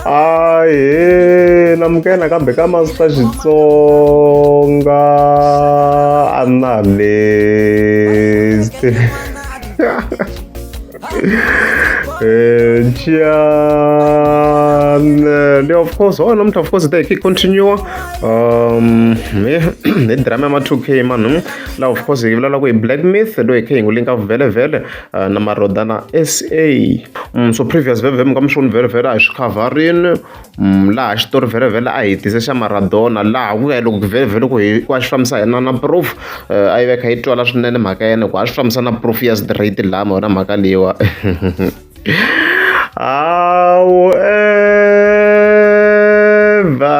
ahe namukela nakambe ka masita xitsonga analyst Jan, eh, of course, oh, namuhla of course they keep continue um hi drama ya ma-2k manu laha of course hi vulavula ku hi black myth loyi hi khe hi n'wi linka vhele vhele uh, na marodana sa mm, so previous vevem ka mixoni vherevhele a hi swi khavharini mm, laha xitori vherevhele a hi tise xa maradona laha ku ya loko vherevhele ku ku a xi fambisa yena na proof uh, a yi veka yi twala swinene mhaka yena ku a swi fambisa na proof ya straight lama yona mhaka leyiwa awu eva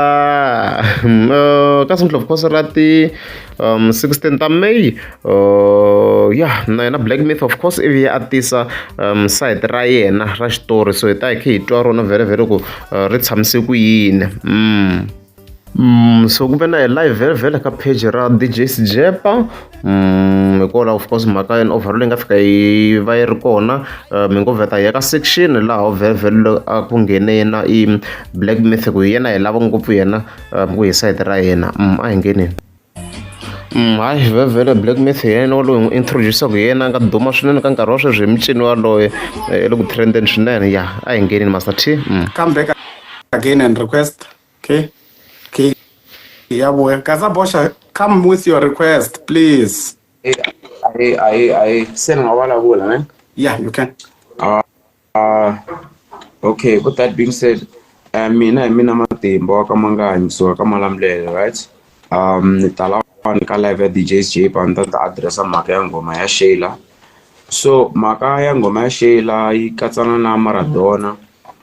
mm, uh, ka sinhlophe khosi ra ti um 16 ta may uh, ya na yena black myth of course ivi a tisa um side ra yena ra xitori so hi ta hi khe hi twa rona vhere vhere ku uh, ri tshamise ku yini mm. Mm, so ku ve na hi live vhele vhele ka page ra dj sjepa mm, hikola of course mhaka yena overall leyi nga fika yi va yi ri kona uh, mi ngo vheta ya ka section laha vhele vhele a ku nghene yena i black myth ku hi yena hi lava ngopfu yena ku hi side ra hina um a hi ngeneni um hayi hi vhevhele black myth hi yena waloyi n'wi introducaka hi yena a nga duma swinene ka nkarhi wa sweswi hi mucini waloye hi le ku trendeni swinene ya a hi ngeneni master t um come back again and request okay okay ya vuya kaza boxa come with your request please Hey, hey, hey, hey. Send a wala wala, man. yeah you can Uh, okay, with that being said, uh, mina hi mina matimba wa ka manganyi so ka malamulele right um ni tala wani ka live ya djs j pa ni ta ta addressa mhaka ya nghoma ya shayla so mhaka ya nghoma ya shayla yi katsana na maradona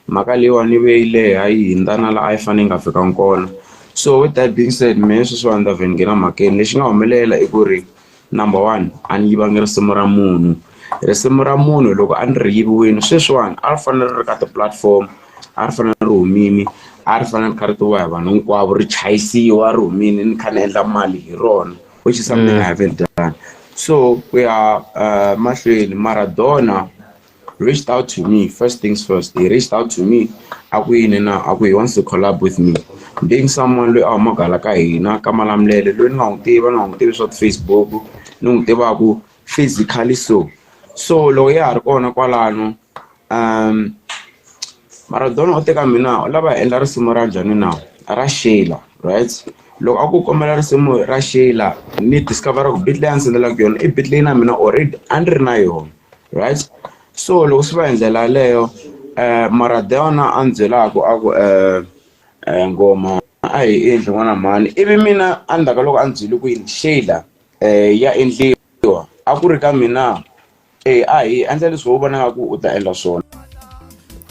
mhaka leyiwani ve yi leha yi hindzana la a yi fanele yi nga fikanga kona so with that being said mehe sweswiwani ta vhe ni nghena mhakeni lexi nga humelela i ku ri Number one a ni yivangi risimu ra munhu risimu ra munhu loko a ni ri yiviwile sweswiwani a ri fanele ri ri ka ti-platform a ri fanele ri humile a ri fanele ri kha ri tiviwa hi vanhu hinkwavo ri chayisiwa ri humile ni kha ni endla mali hi rona which is something I haven't done so ku ya mahlweni Maradona. reached out to me first things first he reached out to me a ku yini na a ku he wants to collab with me being someone loyi a humaka hala ka hina ka malamulele loyi ni nga n'wi tiva ni nga n'wi tivi swa ti-facebook ni n'wi tivaku physically so so loko ya ha ri kona kwalano um maradona o teka mina u lava hi endla risimu ra njhani na ra shela right loko a ku kombela risimu ra shela ni discover ku beat leyi a ndzi tsendelaka yona i beat leyi na mina already a ni ri na yona right so loko swi va hi ndlela yaleyo um mara deona a ni byelaka a ku um um ngoma a hi endli n'wana mhani ivi mina a ndzhaku ka loko a ni byele ku yini sheyila um ya endliwa a ku ri ka mina e a hi endla leswi ho vonaka ku u ta endla swona.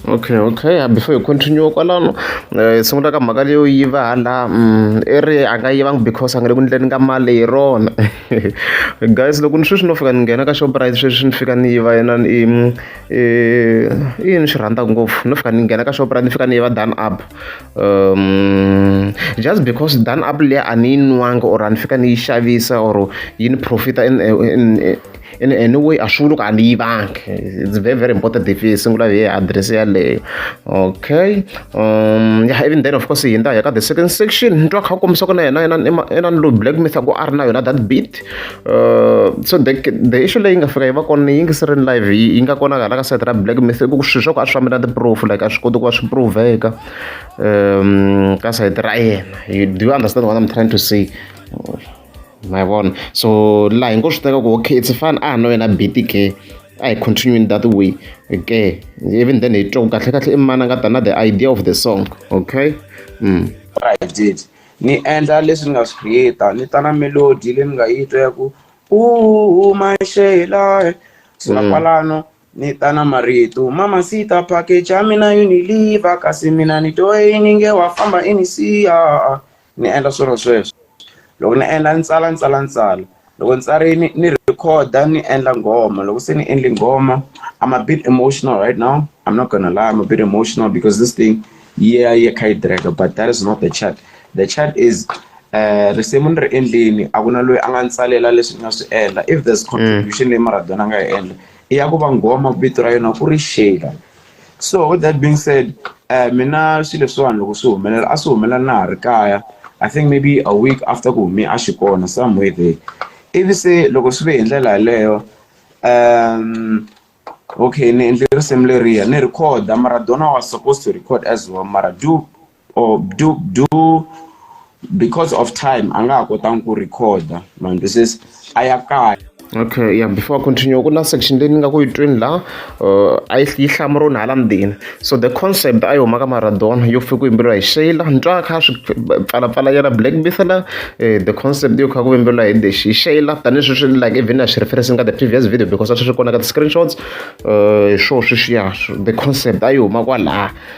Okay okay before hi continue kwalano hi sungula ka mhaka leyo yiva hala i ri a nga yivanga because a nga le ku endleni ka mali hi rona guys loko ni sweswi no fika ni nghena ka Shoprite sweswi ni fika ni yiva yena i yini swi rhandzaka ngopfu no fika ni nghena ka Shoprite ni fika ni yiva done up um just because done up liya a ni yi nwanga or a ni fika ni yi xavisa or yi ni profit-a in in. ene anyway a swi vuli ku a ni yivangi it's very very important if yi sungula hi address yaleyo okay um yeah even then of course hi ndaya ka the second section ni twa kha kombisa ku na yena yena yena ni lo black myth ku a ri na yona that beat uh, so the, the issue leyi nga fika yi va kona yi ngi sirini live yi nga konakala ka site ra black myth ku swi swa ku a swi fambela ti-proof like a swi koti ku va swi proveka um ka site ra yena do you understand what i'm trying to say ma yi vona so laha hi ngo swi teka ku okay it's fine a no yena biti ke a hi continuing that way ke even then hi twa ku kahle kahle i mani a nga ta na the idea of the song okay mm. right ni endla leswi ni nga swi creata ni ta na melody leyi ni nga yi twa ya ku u maxela so na mm. kwalano ni ta na marito mama sita package ya mina uniliver kasi mina ni toyini nge wa famba inisiya ni endla swilo sweswo loko ni endla ni tsala ni tsala ni tsala loko ni tsarile ni rhekhoda ni endla nghoma loko se ni endle nghoma I'm a bit emotional right now I'm not gonna lie I'm a bit emotional because this thing yi ya yi ya yi kha yi tracker but that is not the chat the chat is risimu ni ri endlini a ku na loyi a nga ni tsalela leswi ni nga swi endla if there's contribution leyi Maradona a nga yi endla i ya ku va nghoma vito ra yona ku ri Shayla. so with that being said um mina swilo leswiwani loko swi humelela a swi humelela na ha ri kaya i think maybe a week after ku hume a xi kona somewhere there ivi se loko swi ve hi ndlela yaleyo um okay ni endle risimu leriya ni recorda maradona was supposed to record as well mara due or do do because of time a nga ha kotangi ku recorda ma ndzi se a ya kaya okay yeah before i continue ku na section leyi ni nga ku yi twini la uh, a yi hlamuroni hala ndzeni so the concept a yi huma ka maradona yo fika ku yimbeleriwa hi shayla ni twa kha swi pfalapfala yena black bithela eh, the concept yo kha ku yimbeleriwa hi the hi shayla tanihi swi swi like even a swi referencing ka the previous video because a swi swi kona ka ti-screenshots um uh, swo swi swiya the concept a yi huma kwalaha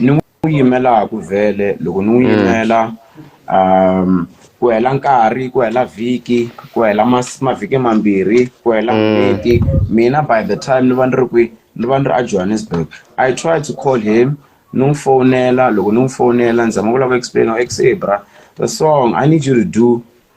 ni n'wi yimelaku vhele loko ni n'wi yimela ku hela nkarhi ku hela vhiki ku hela mavhiki mambirhi ku hela n'hweti mina by the time ni va ni ri kwi ni va ni ri a Johannesburg I try to call him ni n'wi fowunela loko ni n'wi fowunela ni zama ku lava ku explain-a ku se bra the song I need you to do.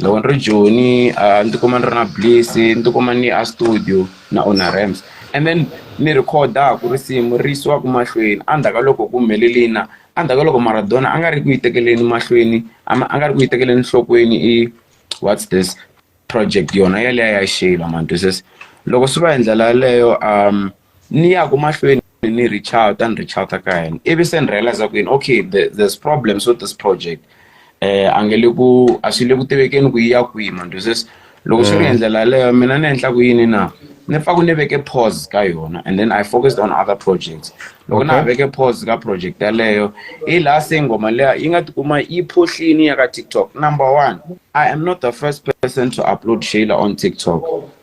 Loko ni ri Joni a ni ti kuma ni ri na Bliss ni ti kuma ni a studio na Ona Ramps and then ni rhikhodaku risimu ri yisiwaka mahlweni endzhaku ka loko ku humelele yini na endzhaku ka loko Maradona a nga ri ku yi tekeleni mahlweni a a nga ri ku yi tekeleni enhlokweni i what's this project yona yaliya ya Shayla ma twisisa loko swi va hi ndlela yaleyo . ni ya ku mahlweni ni reach out a ni reach out ka yena ivi se ni realize ku yini okay the, there's problems with this project eh a nge le ku a swi le ku tivekeni ku yi ya kwihi mandoses loko swi ri hi ndlela yaleyo mina ni endla ku yini na ni pfa ku ni veke pause ka yona and then i focused on other projects loko na ha Okay. veke pause ka project yaleyo hi laha se ngoma leya yi nga tikuma yi phohlini ya ka tiktok number one i am not the first person to upload shayla on tiktok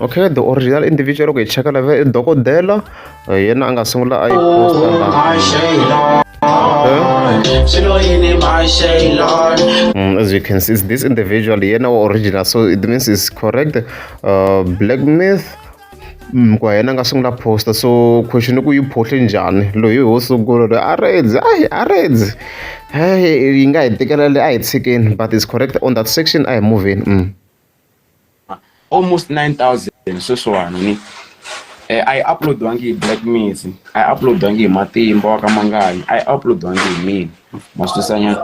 okay the original individual loko hi cheka lava i dokodela eh, yena a nga sungula a yi Mm, as you can see, it's this individual, yeah, now original. So it means it's correct. Uh, Black Myth. Mm, kwa yena nga sungula poster so question ku yi phohle njhani loyi ho sungula loyi a redzi ayi a redzi yi nga hi tekelele a hi tshikeni but is correct on that section a hi moveni mm. almost 9000 sweswiwani ni eh, a yi uploadiwangi hi black mix a yi uploadiwangi hi matimba wa ka mangani a yi uploadiwangi hi mina maswisanyana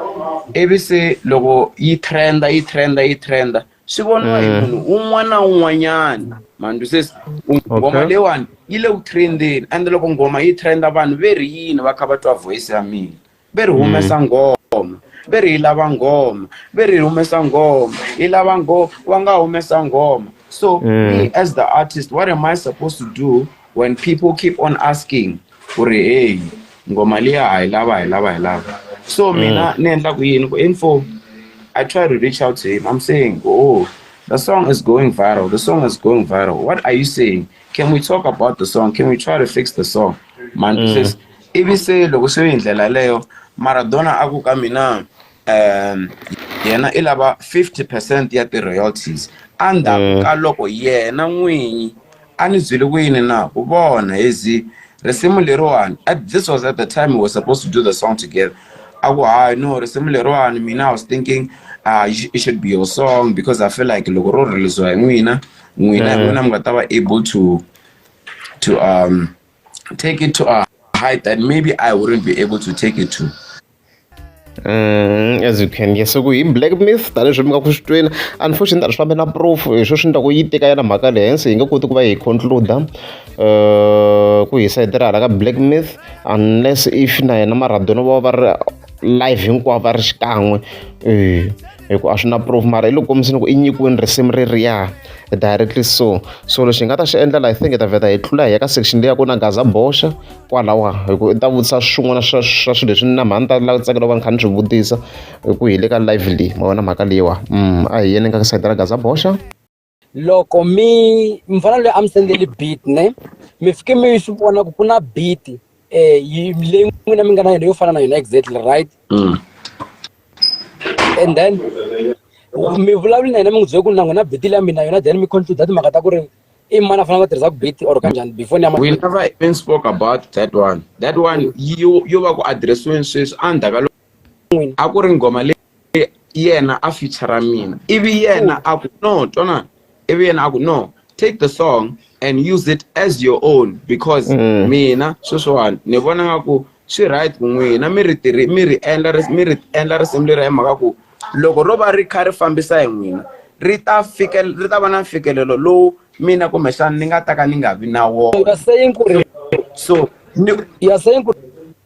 ivi se loko yi trenda yi trenda yi trenda swi voniwa hi eh. munhu un'wana na un'wanyana mandi sesi ngoma leyiwani yi le ku trendeni ende loko ngoma yi trenda vanhu ve ri yini va kha va twa voice ya mina ve ri humesa mm. ngoma ve ri hi lava ngoma ve ri hi humesa ngoma hi lava ngoma wa nga humesa ngoma so mm. me as the artist what am i supposed to do when people keep on asking ku ri hey ngoma liya hi lava hi lava hi lava so mm. mina ni endla ku yini ku info i try to reach out to him i'm saying oh the song is going viral the song is going viral what are you saying can we talk about the song can we try to fix the song man mm. says Ivi se loko se hi ndlela yaleyo Maradona a ku ka mina yena i lava 50 percent ya ti-royalties endzhaku mm. ka loko yena n'winyi a ni byele ku yini na ku vona hi zi risimu leriwani at this was at the time we were supposed to do the song together a ku hayi no risimu leriwani mina i was thinking uh, it should be your song because i feel like loko ro releasiwa hi n'wina n'wina hi mm. n'wina mi nga ta va able to to um take it to a height that maybe I wouldn't be able to take it to. Mm, as you can yes ku hi black myth tanihileswi mi nga ku swi twela unfortunately ta ri fambe na proof hi swo swi endlaku yi teka yana mhaka le hensi hi nga koti ku va hi concluda uh, ku hi sayitira hala ka black myth unless if na yena maradona va va ri live hinkwavo va ri xikan'we um hi ku a swi na proof mara hi loko kombisini ku i nyikiweni risimu ririya directly so so lexi hi nga ta xi endla laha i think hi ta vheta hi tlula hi ya ka section leyi ya ku na gaza boxa kwalawa hi ku i ta vutisa swin'wana swa swa swilo leswi ni na mhani ta lava ku tsakela va ni kha ni swi vutisa hi ku hi le ka live leyi ma vona mhaka leyiwa mm, a hi yeni ka sayiti ra gaza boxa loko mi mufana loyi a mi sendeli beat ne mi fike mi swi vona ku ku na beat um leyi n'wina mi nga na yona yo fana na yona exactly right mm. and then mi vulavuli na yena mi n'wi byele ku na n'wina beat leya mina yona then mi concluda timhaka ta ku ri i mani a fanele va tirhisaka beat or kanjhani before ni we never even spoke about that one that one yo yo va ku addressiweni sweswi endzhaku ka n'wina a ku ri nghoma leyi yena a feature mina ivi yena a ku no twana ivi yena a ku no take the song and use it as your own because mm. mina sweswiwani ni vona nga ku swi right ku n'wina mi ri tirhi mi ri endla mi ri endla risimu leri hi mhaka ku loko ro va ri kha ri fambisa hi n'wina ri ta fike ri ta va na mfikelelo lowu mina kumbexana ni nga ta ka ni nga vi na wona so you are saying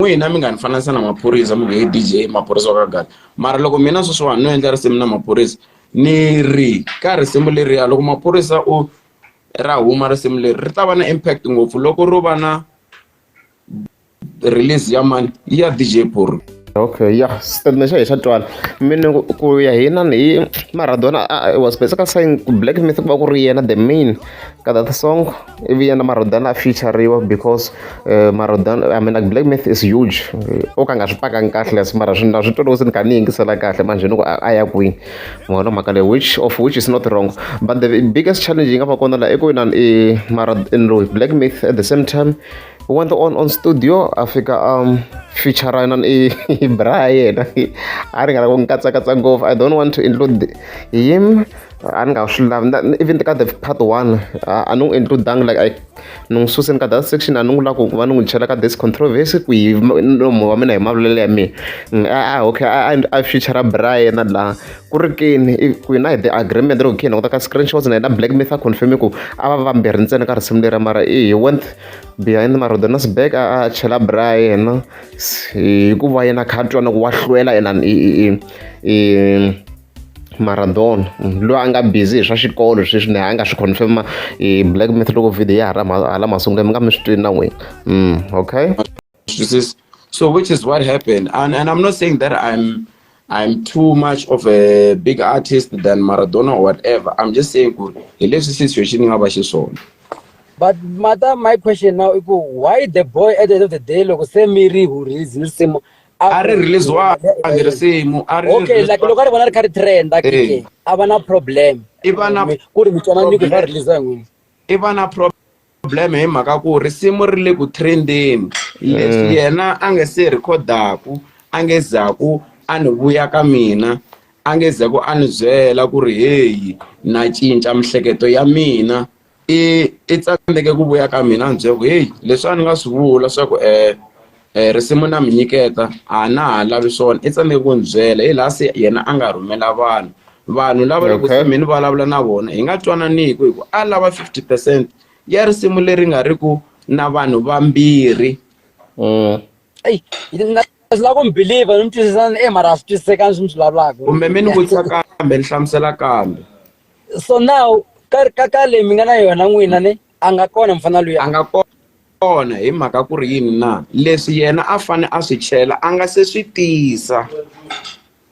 n'wina mi nga ni fananisa na maphorisa mi nge DJ maphorisa wa ka gata mara loko mina sweswiwani no endla risimu na maphorisa ni ri ka risimu leriya loko maphorisa o ra huma risimu leri ri ta va na impact ngopfu loko ro va na release ya mani ya DJ Phorho okay ya xitatimende xa hi xa twala mina ku ya hina hi maradona was basically saying black myth ku va ku ri yena the main ka that song ivi yena marodan a featureriwa because uh, marodan i mean like black myth is huge eh, o ka nga swi pakangi kahle as mara swina swi tolovi se ni kha ni yingisela kahle manje ni ku a ya kwini mona mhaka leyi which of which is not wrong but the biggest challenge yi nga va kona la i ku yina i mara in loyi black myth at the same time went on on studio a fika um feature nan i bra yena a ri nga la ku ni katsakatsa ngopfu i don't want to include him a ni nga swi lavi even ka the part one a ni n'wi includangi like i ni n'wi suseni ka that section a ni n'wi lava ku va ni n'wi chela ka this controversy ku yi nomo wa mina hi mavulelo ya mina mm, a ah, ah, okay a future brian laha ku ri kini ku yi na hi the agreement ro kini kota ka screenshots na yena black myth a confirme ku a va vambirhi ntsena ka risimu lera mara i he went behind marodonas back a a chela brian hikuva yena kha a twana ku wa hlwela yena i Maradona munhu loyi a nga busy hi swa xikolo sweswi na a nga swi confirm hi black myth loko video ya hala masungulo mi nga mi swi twini na n'wina mm okay so which is what happened and, and i'm not saying that i'm i'm too much of a big artist than maradona or whatever i'm just saying ku hi leswi situation yi nga va xiswona but mata my question now i ku why the boy at the end of the day loko se mi ri hurhizi ni risimu a ri release-wangi risimu a ri okay like loko a ri vona ri kha ri trend a ke a va na problem i va na ku ri mitswana ni ku va release n'wini i va na problem hi mhaka ku risimu ri le ku trendeni leswi yena a nge se rhikhodaku a nge zaku a ni vuya ka mina a nge zaku a ni byela ku ri heyi na cinca mihleketo ya mina i i tsandzeke ku vuya ka mina ni byela ku heyi leswi a ni nga swi vula swa ku um um risimu na mi nyiketa a na ha lavi swona i tsandzeke ku ni byela hi laha se yena a nga rhumela vanhu vanhu lava loko se mi ni vulavula na vona hi nga twananiku hi ku a lava fifty percent ya risimu leri nga ri ku na vanhu vambirhi mm. eyi swi lava ku mi believer ni mi twisisana e mara a swi twisisekanga swi mi swi vulavulaka kumbe mi ni vutisa kambe ni hlamusela kambe so now ka ka ka leyi mi nga na yona n'wina ni a nga kona mfana loyi a nga kona hi mhaka ku ri yini na leswi yena a fane a swi chela a nga se swi tisa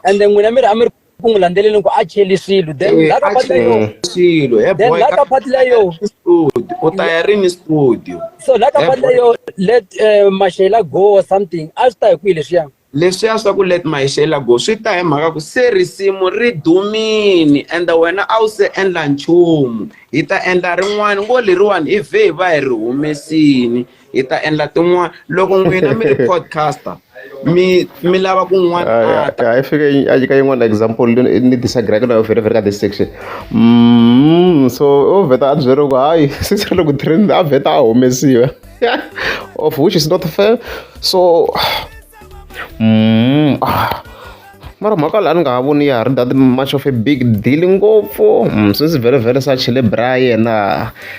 ende n'wina mi ri a mi ri ku n'wi landzeleleni ku a cheli swilo then eh, laka pati leyo swilo he then laka pati leyo studio u ta ya rini studio so laka pati leyo let eh, mashela go or something a swi ta hi kwihi leswiya leswiya swa ku let my shela go swi ta hi mhaka ku se risimu ri dumini and wena a wu se endla nchumu hi ta endla rin'wana ngo leriwani hi vhe hi va hi ri humesini hi ta endla tin'wana loko n'wina mi ri podcaster mi mi lava kun'wana ah, ah, ah, i fike a nyika yin'wana example ni disagree ka nayo very very ka this section mm, so o vheta a byeriwa ku hayi sisirele ku tirheni a vheta a humesiwa yeah, of which is not fair. So, mm, ah, mara mhaka laha ni nga ha voni ya ha ri that much of a big deal ngopfu mm, since very very such le bra yena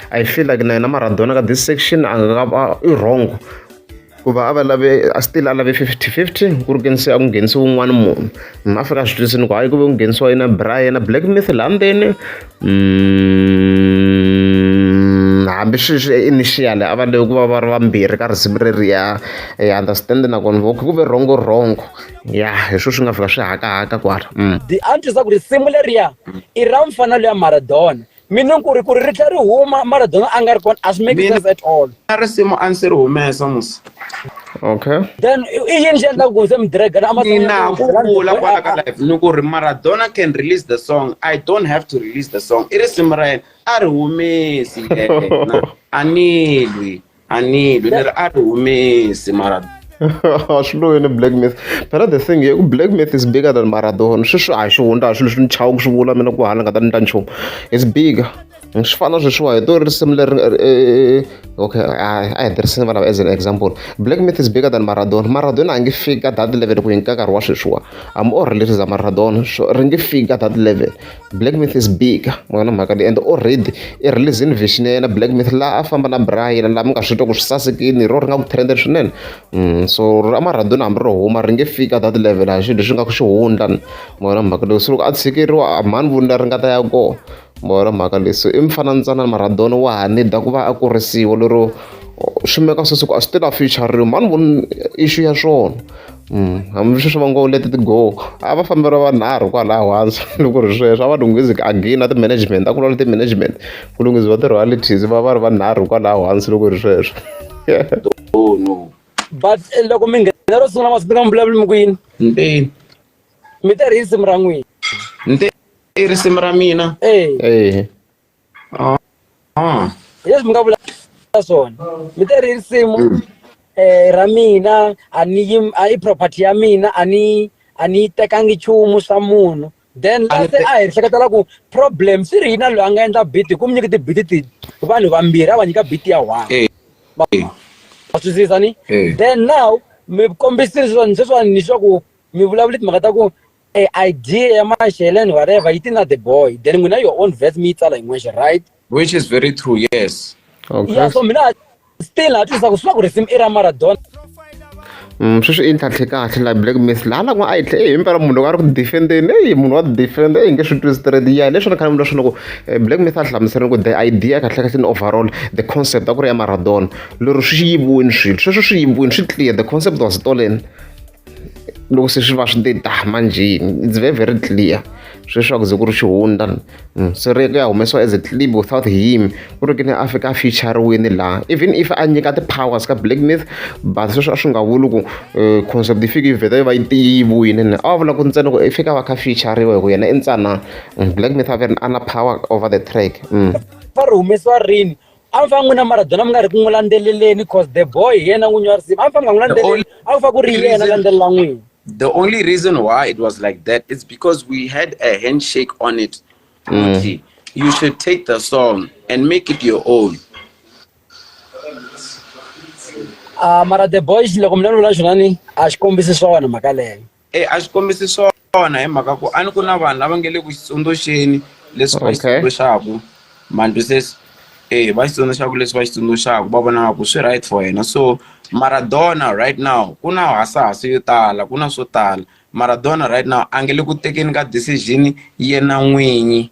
i feel like na yena maradona ka this section a nga va i wrong ku va a va lave a still a lave fifty fifty ku ri kenise a ku nghenisi wun'wana munhu ma fika a swi twisini ku hayi ku ve ku nghenisiwa yena bra yena black myth laha ndzeni Hambiswiriswiri i initial a va leyi ku va va ri vambirhi ka risimu reriya hi understand na vona voho ku ve rhongo rhongo ya hi swona swi nga fika swi hakahaka kwala the answer swa ku risimu leriya i ra mufana luya Maradona meaning ku ri ku ri ri tlhela ri huma Maradona a nga ri kona a swi make sense at all. na risimu a ni se ri humesa musa okay then i yini xi endlaka ku se mi dragana a mina ku vula kwala ka life ni ku ri maradona can release the song i don't have to release the song i risimu ra yena a ri humesi yena a ni lwi a ni lwi ni ri a ri humesi maradona swilo yini black myth phela the thing ye ku black myth is bigger than maradona sweswi a hi xihundla a swilo leswi ni chava ku swi vula mina ku hala nga ta ni ta nchumu it's bigger swi fana sweswiwa hi to risimu leri okay a hi tirhisini vana as an example black myth is bigger than maradona maradona a nge fiki ka that level ku yinka nkarhi wa sweswiwa am o relatives a maradona so ri nge fiki ka that level black myth is bigger mona mhaka leyi and already i releasini vision ya yena black myth laha a famba na bra yena laha mi nga swi twa ku swi sasekini hi ro ri nga ku trenden swinene mm, so ra maradona hambi ro huma ri nge fiki ka that level a xilo leswi nga ku xi hundla mona mhaka leyi so loko a tshikeriwa mhani vunila ri nga ta ya kona Ma vona mhaka leyi so i mifananyana na Maradona wa ha need ku va a kurisiwa lero swi meka swa swa ku a swi tela future ri mhani vona issue ya swona hambi sweswi va ngo let it go a va fambela vanharhu kwalaho hansi loko ri sweswo a va lunghizi again na ti-management a ku lwa na ti-management ku lunghisiwa ti-royalties va va ri vanharhu kwalaho hansi loko ri sweswo but loko mi nghena ro sungula ma swi tiva mi vulavula mi ku yini mpeni. mi te ri risimu ra n'wina ni te i risimu ra mina ehe ah. ah. leswi mi nga vula swona mi te ri risimu um ra mina a ni yi a i property ya mina a ni a ni yi tekangi nchumu swa munhu then lase a hi hleketela ku problem swi ri yina loyi a nga endla biti ku mi nyiki tibiti ti vanhu vambirhi a va nyika biti ya one va swisisa ni then now mi kombisile sweswani sweswani ni swa ku mi vulavula timhaka ta ku e idea ya maxeleni whatever yi ti na the boy then n'wina your own verse mi yi tsala yin'wexe right which is very true yes okay. ya so mina still ha twisisa ku swi va ku risimu i ra maradona Mm, sweswi i ntlhantlhe kahle la black miss laha lako a yi tlhe eyi mpela munhu loko a ri ku defendeni eyi munhu wa defend eyi nge swi twi straight ya leswi ni khale mi leswi loko eh, black miss a hlamuserile ku the idea kahle kahle ni overall the concept a ku ri ya maradona lero swi yiviwini swilo sweswo swi yiviwini swi clear the concept was stolen loko se swi va swi te ta manjheni it's very very clear sweswi a ku ze ku ri xihundla mm, se ri ya humesiwa as a clip without him ku ri ke ni a fika a featureweni laha even if a nyika ti-powers ka black myth but sweswi a swi nga vuli ku eh, concept yi fike yi vheta yi va yi tiyiviwile ni a va vula ku ntsena ku i fika va kha featureiwa hi ku yena i ntsanana mm, black myth a ve ri a na power over the track mm. va ri humesiwa rini a mi fanele n'wina maradona mi nga ri ku n'wi landzeleleni cause the boy hi yena n'winyi wa risimu a mi fanele nga n'wi landzeleli a ku fa ku ri yena landzelela n'wina the only reason why it was like that it's because we had a handshake on it mm. you should take the song and make it your own uh, mara the boys loko mi lanula xona ni a xi kombisi swona mhaka leyo E a swi kombisi swona hi mhaka ku a ni ku na vanhu lava nge le ku xi tsundzuxeni leswi va xi Okay. tsundzuxaku mantu se e va xi tsundzuxaku leswi va xi tsundzuxaku va vona nga ku swi right for hina so Maradona right now ku na hasahasa yo tala ku na swo tala Maradona right now a nge le ku tekeni ka decision yena n'winyi.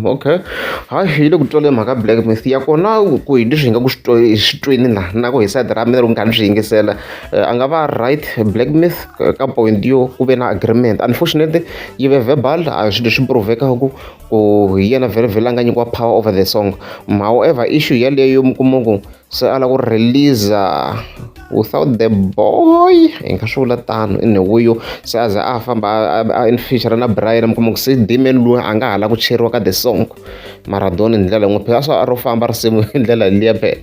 okay hayi hi le ku twalela mhaka black mist ya kona ku hi leswi hi nga ku swi swi twini la na ku hi side ra mina loko nkarhi swi yingisela eh, a nga va right black mist ka point yo ku ve na agreement unfortunately yi ve verbal a swi leswi provekaku ku hi yena vhele vhele a nga nyikiwa power over the song however issue yaleyo mi kuma ku se a lava ku release-a without the boy hi nga swi vula tano i newuyo se a za a famba a in feature na brian mi kuma ku se damian loyi a nga ha la ku cheriwa ka the song maradona hi ndlela yin'we phela swa a ro famba risimu hi ndlela liya be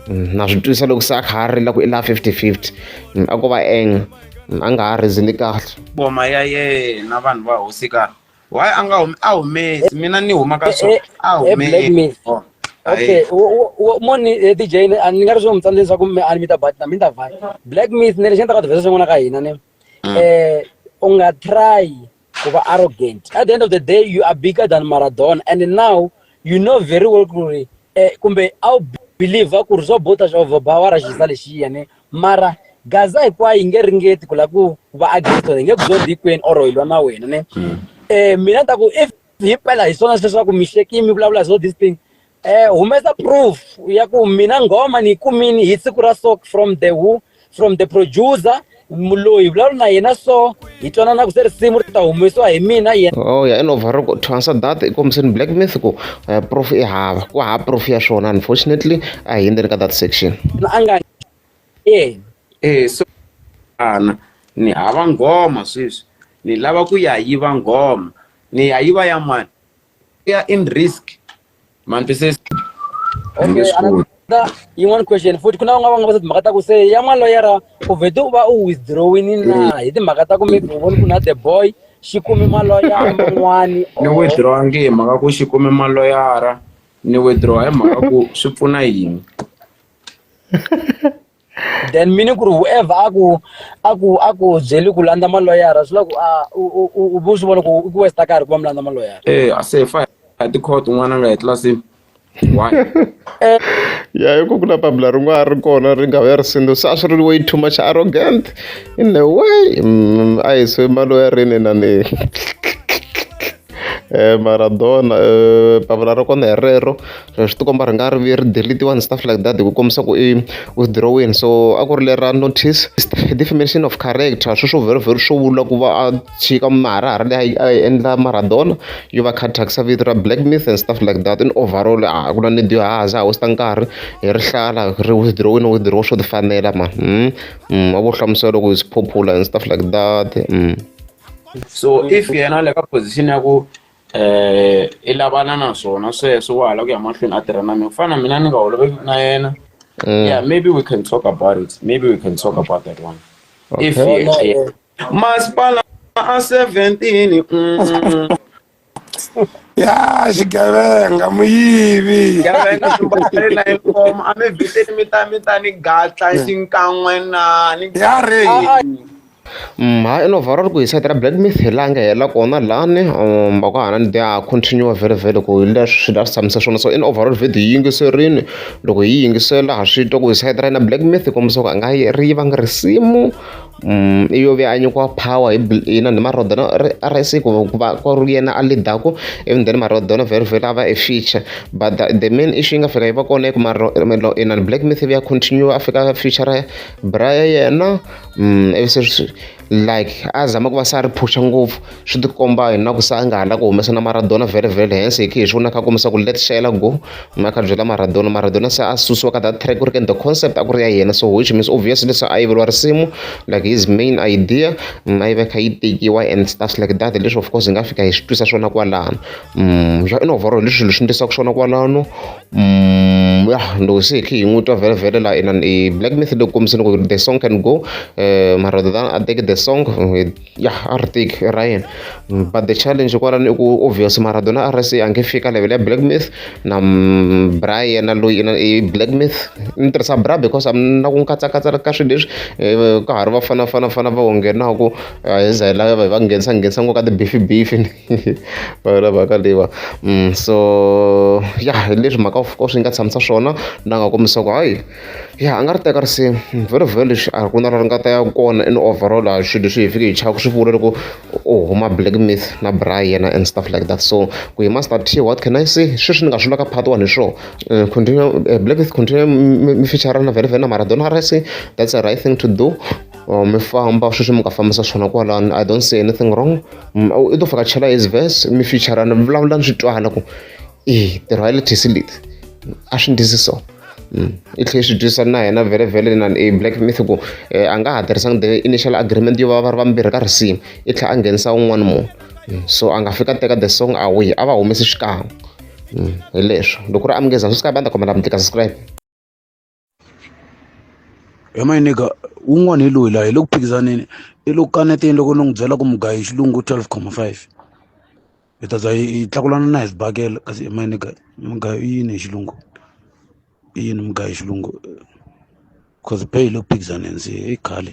mm, na swi twisa loko se a kha a rila ku i la 50 50 mm, a ko va enga mm, a nga ha rizini kahle boma ya yena vanhu va hosika why a nga humi a humesi mina ni huma ka swona a humesi okay moni eh, dj a ni nga ri swi n'wi tsandza leswaku mi a ni mi ta bat na mi ta vat black myth ni lexi ni ta ka tivesa swin'wana ka hina ni um mm. u nga try ku va arrogant at the end of the day you are bigger than maradona and now you know very well ku ri eh, kumbe a wu believe ku ri swo bota swa va wa raxisa lexiya ne mara gaza hinkwayo yi nge ringeti ku la ku va against wena yi nge ku zondi hinkwenu or hi lwa na wena ne um mina ni ta ku if himpela hi swona sweswaku mi hlekini mi vulavula hi swo this thing um humesa proof ya ku mina nghoma ni yi kumini hi siku ra so from the who from the producer muloyi vulavula na yena so hi twanana ku se risimu ri ta humesiwa hi mina yena oh ya inova ri to answer that i kombiseni black myth ku uh, proof i hava ku hava proof ya swona unfortunately a hi endzeni ka that section na a nga eh eh so ana ni hava nghoma sweswi ni lava ku ya yiva nghoma ni ya yiva ya mani ya in risk manitwisisa Okay, another yin'wana question futhi ku na van'wana va nga va se timhaka ta ku se ya n'waloyera u vhete u va u withdrawini na hi timhaka ta ku maybe u voni ku na the boy xi kumi maloya man'wani ni withdraw nge hi mhaka ku xi kume maloyara ni withdraw hi mhaka ku swi pfuna yini then mini ku ri whoever a ku a ku a ku byeli ku landza maloyara swi la ku a u vu swi vona ku i ku westa karhi ku va mi landza maloyara e a se fa a tikhoto un'wana a nga etlilasini why eh. ya hi ku ku na papila rin'wana ri kona ri nga ya risindo se a swi ri way too much arrogant in a way mm, a hi se maloyarini na ni Maradona papila ra kona hi rero swi ti komba ri nga ri vi ri delete-iwani stuff like that hi ku kombisa ku i withdraw-ini so a ku ri lera notice defamation of character swi swo vhela swo vula ku va a tshika maharahara leyi a yi endla Maradona yo va a kha a thyakisa vito ra black myth and stuff like that in overall a ku na need yo a ha za a waste nkarhi hi rihlala ri withdraw-ini no withdraw swo ti fanela mhani wa vo hlamusela loko it's popular and stuff like that . so if yena le ka position ya ku eh i lavana na swona sweswo wa hala ku ya mahlweni a tirha na mina ku fana na mina ni nga holoveki na yena mm. yeah maybe we can talk about it maybe we can talk about that one okay. if masipala a 17 mm, mm, mm. ya xigevenga muyivi xigevenga xibari na inkomo a mi viteni mi ta mi ta ni gatla xinkan'we na ni ya re mha ino vhara ri ku hi sayiti ra black myth hi langa hela kona lani um va ku hana ni dia continue very very ku hi leswi swi la swi tshamisa swona so in overall video yi yingiserini loko hi yingisela ha swi twa ku hi sayiti ra yina black myth hi kombisa ku a nga ri yivanga risimu Mm, iyo vhe a nyikiwa power hi bl- yina ni marodono ri- rsi ku ku va ku ri yena a leadaku even then marodono very very a va a feature but the, the main issue yi nga fika yi va kona i ku maro- melo- yina black myth ya continue a fika a feature bra ya yena mm, ivi se swi- like a zama ku va se a ri phusha ngopfu swi ti komba hi na ku se a nga ha la ku humesa na maradona very very hansi hi khe hi swi vona kha kombisa ku let shayela go ma kha byela maradona maradona se a susiwa ka that track ku ri ke the concept a ku ri ya yena so which means obviously se a yiveriwa risimu like his main idea mm, a yi va kha yi tekiwa and stuff like that leswi of course hi nga fika hi swi twisa swona kwalano mm, swa in overall leswi swilo swi ndlisaka swona kwalano mm, ya loko se hi khe hi n'wi twa very very la in black myth loko kombiseni ku the song can go eh, maradona a teke the song ya a ri teki i ra yena but the challenge kwalano i ku obvious Maradona a ri se a nge fiki ka level ya Black myth na bra yena loyi na i Black myth ni tirhisa bra because a ni na ku katsakatsa ka swilo leswi ka ha ri vafana fana fana va onge na ku a hi za hi lava hi va nghenisa nghenisa ngopfu ka ti beef beef va yona mhaka leyiwa so ya hi leswi mhaka of course yi nga tshamisa swona na nga ku hayi. Ya a nga ri teka risimu very very lexi a ku na la ri nga ta ya kona and overall a hi swilo leswi hi fike hi chava ku swi vula loko u huma black myth na braai yena and stuff like that so ku hi master T what can I say hi sweswo ni nga swi vulaka part one hi swona continue black myth continue mi fichara na Vele Vele na Maradona R_I_C that's the right thing to do mi famba sweswi mi nga fambisa swona kwalano I don't see anything wrong i to vhakachela his verse mi fichara ni vulavula ni swi twala ku. e ntirho wa le tisilit a swi ndisi so mm. i tlhela swi twisisa na yena vhele vhele na e black myth ku eh, a nga ha tirhisanga the initial agreement yo va va ri vambirhi ka risimu i tlhela a nghenisa un'wana munhu mm. so a nga fika teka the song away a va humesi xikan'we mm. hi leswo loko ri amukeza swi sky banda kombela mi tika subscribe He my nigga wun'wani hi loyi la hi le ku phikizaneni i lo kaneteni loko ni n'wi byela ku mugayo hi xilungu twelve comma five hi ta za hi tlakulana na hi sibakela kasi he my nigga mugayo i yini hi xilungu i yini mugayo hi xilungu coz pay hi le ku phikizaneni se i khale.